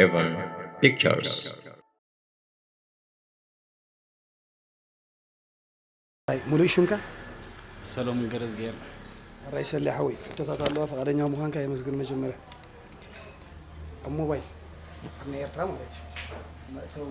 Evan Pictures. ኣይ ሙሉእ ሽምካ ሰሎሙን ገረዝግሄር ራይ ሰሌ ሓወይ ሕቶታት ኣለዋ ፈቃደኛ ምዃንካ የመስግን መጀመርያ ኣብ ሞባይል ኣብ ናይ ኤርትራ ማለት እዩ መእተዊ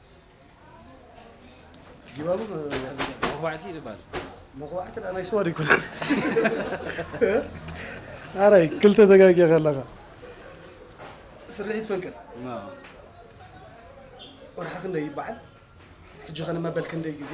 ጅባቡ መኹባዕቲ ይባል መኹባዕቲ ናይ ስዋ ይኮነት ኣራይ ክልተ ተጋጊ ከለኻ ስርሒት ፈንቅል ወርሓ ክንደይ ይበዓል ሕጂ ኸ ንመበል ክንደይ ግዜ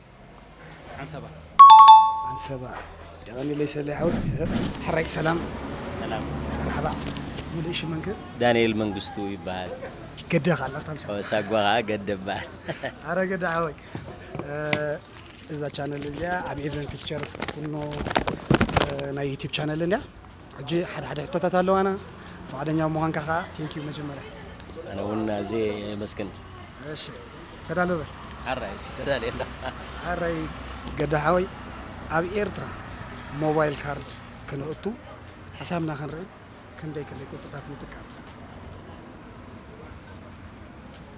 ዓንሰባ ዓንሰባ የቐኒለይ ሰሌ ሓወይ ሕራይ ሰላም ሰላም መርሓባ ሙሉእ ሽመንከ ዳንኤል መንግስቱ ይበሃል ገደ ካላ ታምሳ ሳጓ ከዓ ገደ ይበሃል ኣረ ገደ ሓወይ እዛ ቻነል እዚኣ ኣብ ኤቨን ፒክቸርስ ትፍኖ ናይ ዩቲብ ቻነል እንድያ ሕጂ ሓደ ሓደ ሕቶታት ኣለዋና ፍቓደኛ ብምዃንካ ከኣ ቴንኪው መጀመርያ። ኣነ እውን ኣዝየ የመስግን። እሺ ተዳሎ በል። ሐራይ እሺ ተዳልየ ኣለኹ። ሐራይ ገዳ ሐወይ ኣብ ኤርትራ ሞባይል ካርድ ክነእቱ ሕሳብና ክንርኢ ክንደይ ክንደይ ቁጽርታት ንጥቀም?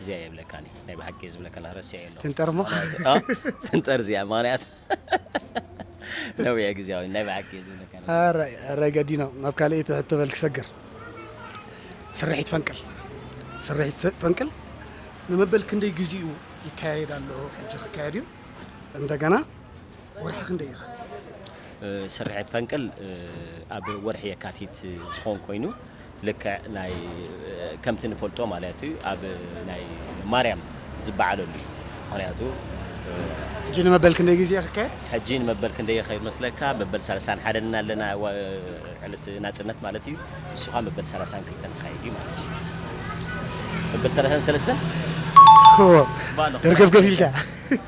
እዚኣ የብለካኒ ናይ ብሓቂ ዝብለካላ ረሲዐ ኣሎ ትንጠር እሞ ትንጠር እዚኣ ምክንያት ነዊያ ግዜያዊ ናይ ብሓቂ ዝብለካ ራይ ገዲኖ ናብ ካልእ ትሕቶ በል ክሰግር ስርሒት ፈንቅል ስርሒት ፈንቅል ንመበል ክንደይ ግዜኡ ይካየድ ኣሎ ሕጂ ክካየድ እዩ እንደገና ወርሒ ክንደይ ኢኻ? ስርሒት ፈንቅል ኣብ ወርሒ የካቲት ዝኾን ኮይኑ ልክዕ ናይ ከምቲ ንፈልጦ ማለት እዩ ኣብ ናይ ማርያም ዝበዓለሉ እዩ ምክንያቱ ሕጂ ንመበል ክንደይ ግዜ ክካየድ? ሕጂ ንመበል ክንደይ ይኸይድ መስለካ? መበል ሰላሳን ሓደን እና ኣለና ዕለት ናጽነት ማለት እዩ ንሱ ኸዓ መበል ሰላሳን ክልተን ክካየድ እዩ ማለት እዩ መበል ሰላሳን ሰለስተን ደርገፍገፍ ኢልካ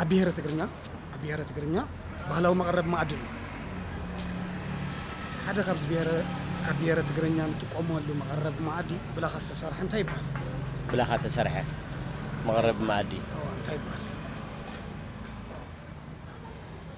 ኣብ ብሄረ ትግርኛ ኣብ ብሄረ ትግርኛ ባህላዊ መቐረቢ መኣዲ ኣሎ። ሓደ ካብዚ ብሄረ ኣብ ብሄረ ትግርኛ ንጥቀመሉ መቐረቢ መኣዲ ብላኻ ዝተሰርሐ እንታይ ይበሃል? ብላኻ እተሰርሐ መቐረቢ መኣዲ? እወ እንታይ ይበሃል?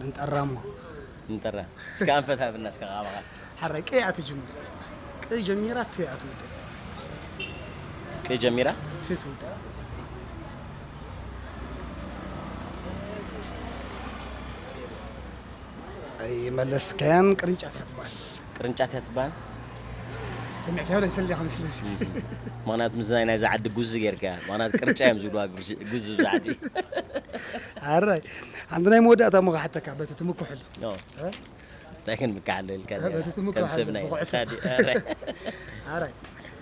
ንጠራ እሞ ንጠራ እስከ ኣንፈት ሃብና እስከ ቃባኻ ሓራይ ቅይ እያ ትጅምር ቅይ ጀሚራ ት እያ ትውድእ ቅይ ጀሚራ ት ትውድእ ኣይመለስካያን ቅርንጫፍ እያ ትበሃል ቅርንጫት እያ ትበሃል። ሰሚዕካዮ ዶ ይሰልል ኢኻ መስለኒ። ምኽንያቱ ምስዚ ናይ ናይዛ ዓዲ ጉዚ ጌርካያ። ምኽንያቱ ቅርጫ እዮም ዝብልዋ ጉዚ እብዛ ዓዲ። ኣራይ ሓንቲ ናይ መወዳእታ እሞ ክሓተካ በቲ ትምክሐሉ። እንታይ ክንምክሓሉ ኢልካ በቲ ትምክሐሉ ብኩዕሶ። ኣራይ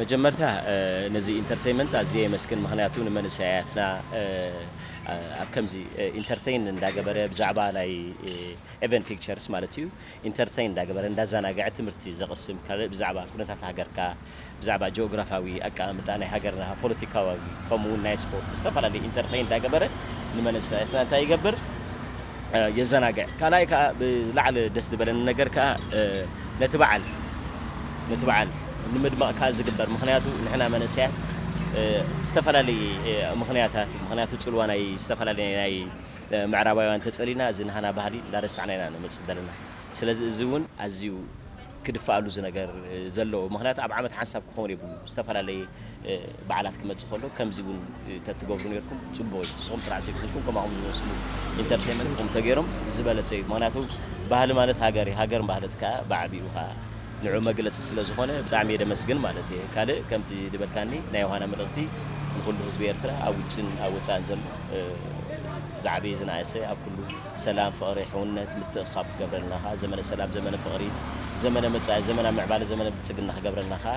መጀመርታ ነዚ ኢንተርተይመንት ኣዝየ የመስግን ምክንያቱ ንመንእሰያትና ኣብ ከምዚ ኢንተርተይን እንዳገበረ ብዛዕባ ናይ ኤቨን ፒክቸርስ ማለት እዩ ኢንተርተይን እንዳገበረ እንዳዛናገዐ ትምህርቲ ዘቅስም ካልእ ብዛዕባ ኩነታት ሃገርካ ብዛዕባ ጂኦግራፋዊ ኣቀማምጣ ናይ ሃገርና ፖለቲካዊ ከምኡ ውን ናይ ስፖርት ዝተፈላለዩ ኢንተርተይን እንዳገበረ ንመንእሰያትና እንታይ ይገብር የዘናግዕ ካልኣይ ከኣ ብዝለዓለ ደስ ዝበለኒ ነገር ከኣ ነቲ በዓል ነቲ በዓል ንምድማቕ ከኣ ዝግበር ምኽንያቱ ንሕና መንእሰያት ብዝተፈላለየ ምኽንያታት ምኽንያቱ ጽልዋ ናይ ዝተፈላለየ ናይ ምዕራባውያን ተጸሊና እዚ ናህና ባህሊ እንዳረሳዕና ኢና ንመጽእ ዘለና ስለዚ እዚ እውን ኣዝዩ ክድፋኣሉ ዝነገር ዘለዎ ምኽንያቱ ኣብ ዓመት ሓንሳብ ክኸውን የብሉ ዝተፈላለየ በዓላት ክመጽእ ከሎ ከምዚ ውን ተትገብሩ ኔርኩም ጽቡቅ እዩ ንስኩም ጥራሕ ዘይኮንኩም ከማኩም ዝመስሉ ኢንተርቴመንት ኩም ተገሮም ዝበለጸ እዩ ምክንያቱ ባህሊ ማለት ሃገር እዩ ሃገር ማለት ከኣ በዓቢኡ ከኣ ንዑ መግለጺ ስለ ዝኮነ ብጣዕሚ እየ ደመስግን ማለት እየ ካልእ ከምቲ ድበልካኒ ናይ ዮሃና መልእክቲ ንኩሉ ህዝቢ ኤርትራ ኣብ ውጭን ኣብ ወጻእን ዘሎ ዝዓበየ ዝነኣሰ ኣብ ኩሉ ሰላም ፍቅሪ ሕውነት ምትእክካብ ክገብረልና ከኣ ዘመነ ሰላም ዘመነ ፍቅሪ ዘመነ መጻኢ ዘመና ምዕባለ ዘመነ ብልጽግና ክገብረልና ከኣ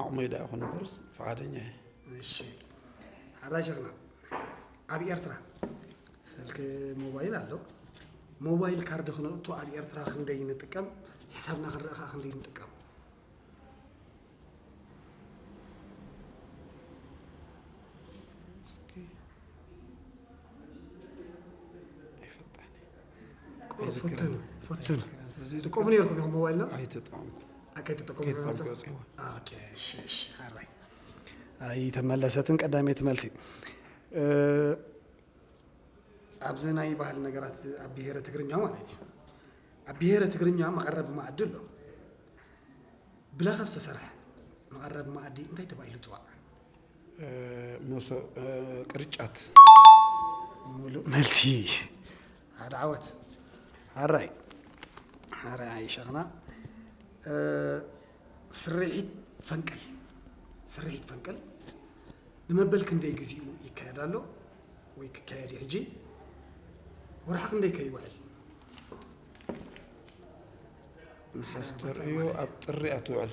ዓቕመይ ደኣ ይኹን እምበርስ ፍቓደኛ እየ። እሺ ሓራይ ሸኽና ኣብ ኤርትራ ስልኪ ሞባይል ኣሎ ሞባይል ካርድ ክነእቱ ኣብ ኤርትራ ክንደይ ንጥቀም ሕሳብና ክንርኢ ከዓ ክንደይ ንጥቀም እስኪ ኣይፈጣን እየ። ፉትን ፉትን ትቆሙ ነርኩም ኢኹም ሞባይልና ኣይተጠቀምኩ ከይተጠቀሙ ኣይተመለሰትን ቀዳሜት መልሲ ኣብዚ ናይ ባህል ነገራት ኣብ ብሄረ ትግርኛ ማለት እዩ ኣብ ብሄረ ትግርኛ መቐረብ ማዕዲ ኣሎ ብላኻ ዝተሰርሐ መቐረብ ማዕዲ እንታይ ተባሂሉ ፅዋዕ ቅርጫት ሙሉእ መልሲ ሓደ ዓወት ሓራይ ሓራይ ኣይሸኽና ስርሒት ፈንቅል ስርሒት ፈንቅል ንመበል ክንደይ ግዚኡ ይካየድ ኣሎ ወይ ክካየድ እዩ ሕጂ ወርሒ ክንደይ ከይውዕል ምሳስተርእዮ ኣብ ጥሪ ኣትውዕል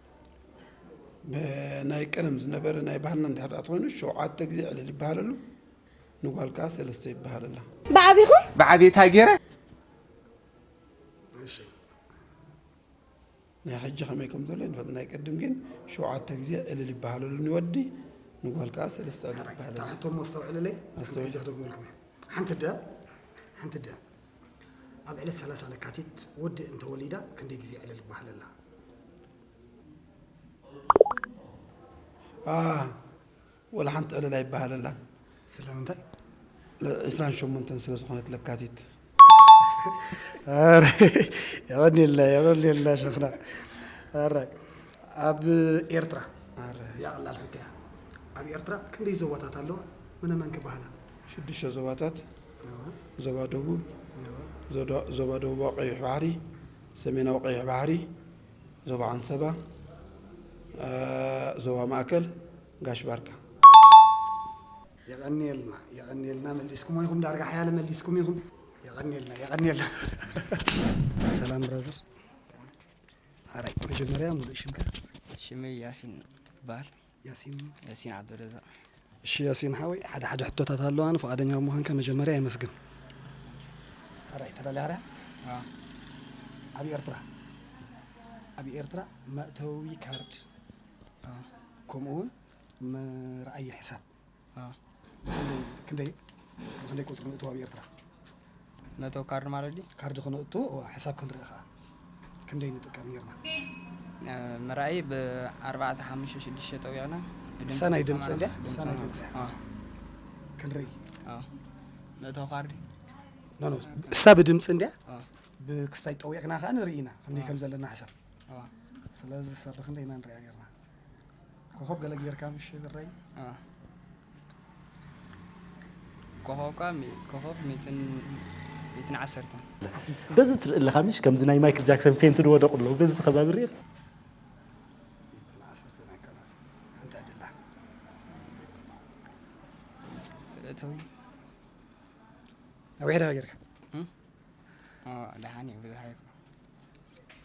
ብናይ ቀደም ዝነበረ ናይ ባህልና እንድሕር ተኾይኑ ሸውዓተ ግዜ ዕልል ይበሃለሉ ንጓል ከዓ ሰለስተ ይበሃለላ ብዓቢኹም ብዓብታ ገይረ ናይ ሕጂ ከመይ ከም ዘሎ ይንፈጥ ናይ ቅድም ግን ሸውዓተ ግዜ ዕልል ይበሃለሉ ንወዲ ንጓል ከዓ ሰለስተ ዕልል ይበሃለሉ ኣስተውዕልለይ ኣስተውዕጃ ደግመልኩም ሓንቲ ደ ሓንቲ ደ ኣብ ዕለት ሰላሳ ለካቲት ወዲ እንተወሊዳ ክንደይ ግዜ ዕልል ባሃለላ። ኣህ ወላ ሓንቲ ዕልል ኣይበሃለላን። ስለምንታይ? ዕስራን ሸሞንተን ስለ ዝኾነት ለካቲት። የቐንየልና የቐንየልና ሸኽና ኣራይ ኣብ ኤርትራ እዚኣ ቀላል ሕቶ እያ ኣብ ኤርትራ ክንደይ ዞባታት ኣለዋ መነመን ከ ይበሃላ? ሽዱሽተ ዞባታት ዞባ ደቡብ፣ ዞባ ደቡባዊ ቀይሕ ባሕሪ፣ ሰሜናዊ ቀይሕ ባሕሪ፣ ዞባ ዓንሰባ፣ ዞባ ማእከል፣ ጋሽ ባርካ። የቐንየልና የቐንየልና መሊስኩሞ ኢኹም ዳርጋ ሓያለ መሊስኩም ኢኹም የቐንየልና የቐንየልና። ሰላም ብራዘር ሓራይ መጀመርያ ሙሉእ ሽምካ? ሽመይ ያሲን ይበሃል። ያሲን ዓብደልረዛቕ እሺ ያሲን ሓወይ ሓደ ሓደ ሕቶታት ኣለዋኒ ፍቓደኛ ብምዃንካ መጀመርያ የመስግን ሕራይ ተዳልያ ሕራይ ኣብ ኤርትራ ኣብ ኤርትራ መእተዊ ካርድ ከምኡ ውን መርኣዪ ሕሳብ ክንደይ ብክንደይ ቁፅሪ ንእትዎ ኣብ ኤርትራ መእተዊ ካርድ ማለት ድዩ ካርድ ክነእቱ ሕሳብ ክንርኢ ከዓ ክንደይ ንጥቀም ነርና ምርኣይ ብኣርባዕተ ሓሙሽተ ሽዱሽተ ጠዊዕና ሰናይ ድምፂ እንድያ ሰናይ ድምፂ ክንርኢ መእተዊ ካርድ ኖኖ እሳ ብድምፂ እንድያ ብክስታይ ጠዊዕና ከዓ ንርኢ ኢና ክንደይ ከም ዘለና ሕሳብ ስለዚ ሰብ ክንደይ ኢና ንሪኣ ነርና ኮኾብ ገለ ጌርካ ምሽ ዝረይ ኮኾብካ ኮኾብ ሚትን ሚትን ዓሰርተን በዚ ትርኢ ኣለኻ ምሽ ከምዚ ናይ ማይክል ጃክሰን ፌንቲ ዝወደቑ ኣለዉ በዚ ከባቢ ርእ ነዊሕ ዳ ጌርካ ደሓን እዩ ብዙሓ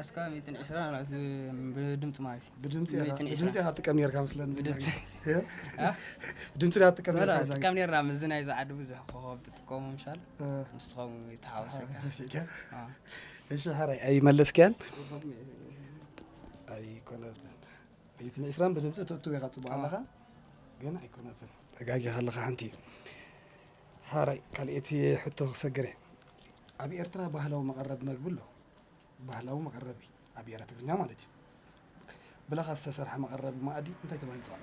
ኣስካብ ሚእትን ዕስራ ናብዚ ብድምፂ ማለት እዩ ብድምፂ ኢኻ- ሚእትን ብድምፂ ዕስራ ኢኻ ትጥቀም ነርካ ምስለኒ ብድምፂ ብድምፂ ኢኻ ትጥቀም በላ ነርካ እዛ- ጥቀም ነርና ምስዚ ናይ ዝዓዲ ብዙሕ ኮኸብ ትጥቀሙ ምሻል እ፣ ንስኸም ተሓወሰካ ረሲዕካ። ኣዎ። እሺ ሕራይ ኣይመለስክያን ኣይኮነትን ሚእትን ዕስራን ብድምፂ ትእትው ኢኻ ፅቡቅ ኣለኻ ግን ኣይኮነትን ተጋጊኻ ኣለኻ ሓንቲ ሐራይ ካልኤቲ ሕቶ ክሰግር እየ ኣብ ኤርትራ ባህላዊ መቀረቢ መግቢ ኣሎ ባህላዊ መቀረቢ ኣብ ኤረ ትግርኛ ማለት እዩ ብላካ ዝተሰርሐ መቀረቢ ማኣዲ እንታይ ተባሂሉ ይፅዋዕ?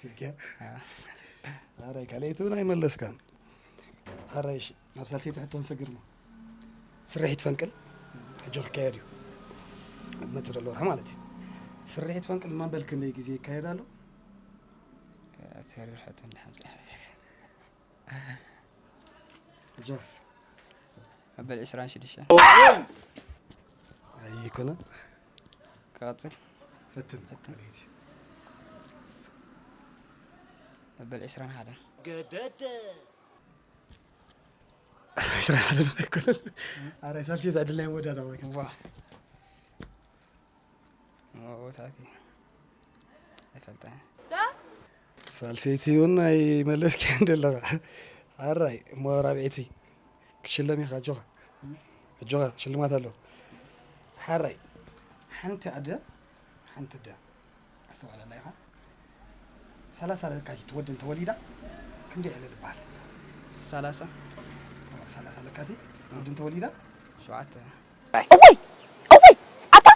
ስልኪያ ኣራይ ካልኣይቲ እውን ኣይመለስካን ኣራይ እሺ ናብ ሳልሰይቲ ሕቶ ንሰግር እሞ ስርሒት ፈንቅል ሕጂ ክካየድ እዩ ኣብ ዝመፅእ ዘሎ ወርሒ ማለት እዩ ስርሒት ፈንቅል ማንበል ክንደይ ግዜ ይካየድ ኣሎ ተሪር ሕቶ ንሓምሳ ሕጂ ኣበል ዕስራን ሽዱሽተን ኣይኮነን ክቐፅል ፈትን ኣቤት እዩ መበል ዕስራን ሓደን ገደደ ዕስራን ሓደን ኣይኮነን ኣረ ሳልሴት ኣድላይ መወዳእታ ወይ ዋ መወታት እዩ ኣይፈልጠን ሳልሰይቲ እውን ኣይመለስኪያን ዘለኻ ኣራይ እሞ ራብዒቲ ክትሽለም ኢኻ ኣጆኻ ኣጆኻ ሽልማት ኣሎ ሓራይ ሓንቲ ኣደ ሓንቲ ደ ኣስተውዕለላ ኢኻ ሰላሳ ለካቲት ወዲ እንተወሊዳ ክንደይ ዕልል ይበሃል ሰላሳ ሰላሳ ለካቲት ወዲ እንተወሊዳ ሸውዓተ እወይ እወይ ኣታ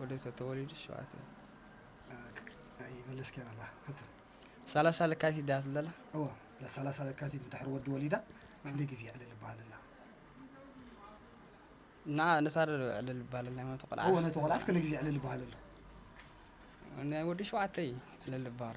ወዲ እንተተወሊዱ ሸውዓተ ሰላሳ ለካቲት ድያ ትብል ዘላ? እወ ሰላሳ ለካቲት እንድሕር ወዲ ወሊዳ ክንደይ ግዜ ዕልል ይበሃል ኣላ? ንዓ ነታ ዶ ዕልል ይበሃል ኣላ? ነቲ ቆልዓ እወ ነቲ ቆልዓስ ክንደይ ግዜ ዕልል ይበሃል ኣሎ? ናይ ወዲ ሸውዓተ እዩ ዕልል ዝበሃሎ።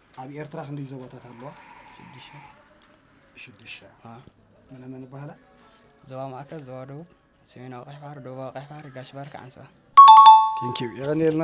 ኣብ ኤርትራ ክንደይ ዞባታት ኣለዋ? ሽዱሽተ። ሽዱሽተ። መነ መን ይበሃላ? ዞባ ማእከል፣ ዞባ ደቡብ፣ ሰሜናዊ ቀይሕ ባሕሪ፣ ደቡባዊ ቀይሕ ባሕሪ፣ ጋሽ ባርካ፣ ዓንስባ። ቴንኪው የቐንየልና።